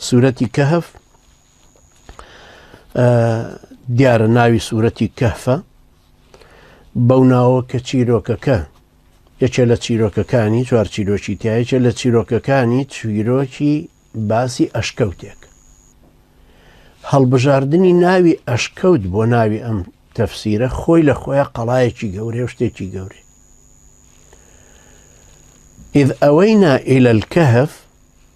سورەتی کەهف دیارە ناوی سورەتی کەهفە بەو ناوە کە چیرۆکەکە یەکێ لە چیرۆکەکانی چوار چیرۆکی تایەکێ لە چیرۆکەکانی چویرۆکی باسی ئەشکەوتێک هەڵبژاردنی ناوی ئەشکەوت بۆ ناوی ئەم تەفسیرە خۆی لە خۆیان قەڵایەکی گەورێ شتێکی گەورێ إذ أوينا إلى الكهف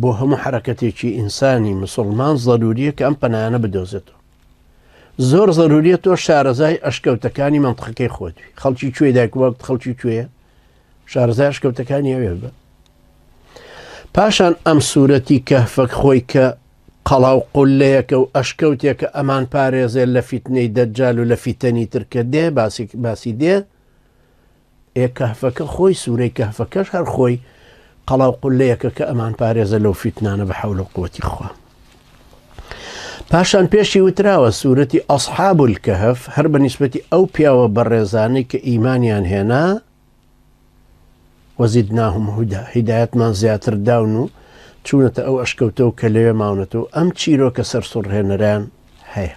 بۆ هەموو حەرەکەتێکی ئینسانی مسوڵمان زەروریە کە ئەم پەنایانە بدۆزێتەوە زۆر زەروریە تۆ شارەزای ئەشکەوتەکانی منتقەکەی خۆتوی خەڵکی کوێ دایک وەخت خەڵکی کوێە شارەزای ئەشکەوتەکانی ئەوێ بە پاشان ئەم سوورەتی کەفەک خۆی کە قەڵا و قولەیەکە و ئەشکەوتێکە ئەمان پارێزێ لە فیتنەی دەجال و لە فیتەنی ترکە دێ باسی باسی دێ ئێ کەهفەکە خۆی سورەی کەهفەکەش هەر خۆی قەڵاو قولەیەکە کە ئەمان پارێزە لەو فیتنانە بە حەول و قوتی خوا پاشان پێشی وتراوە سوورەتی ئەسحاب الکەهف هەر بە نیسبەتی ئەو پیاوە بەڕێزانەی کە ئیمانیان هێنا وەزید ناهم هودا هیدایەتمان زیاتر داون و چوونەتە ئەو ئەشکەوتەوە کە لەوێ ماونەتەوە ئەم چیرۆکە سەر سڕهێنەران هەیە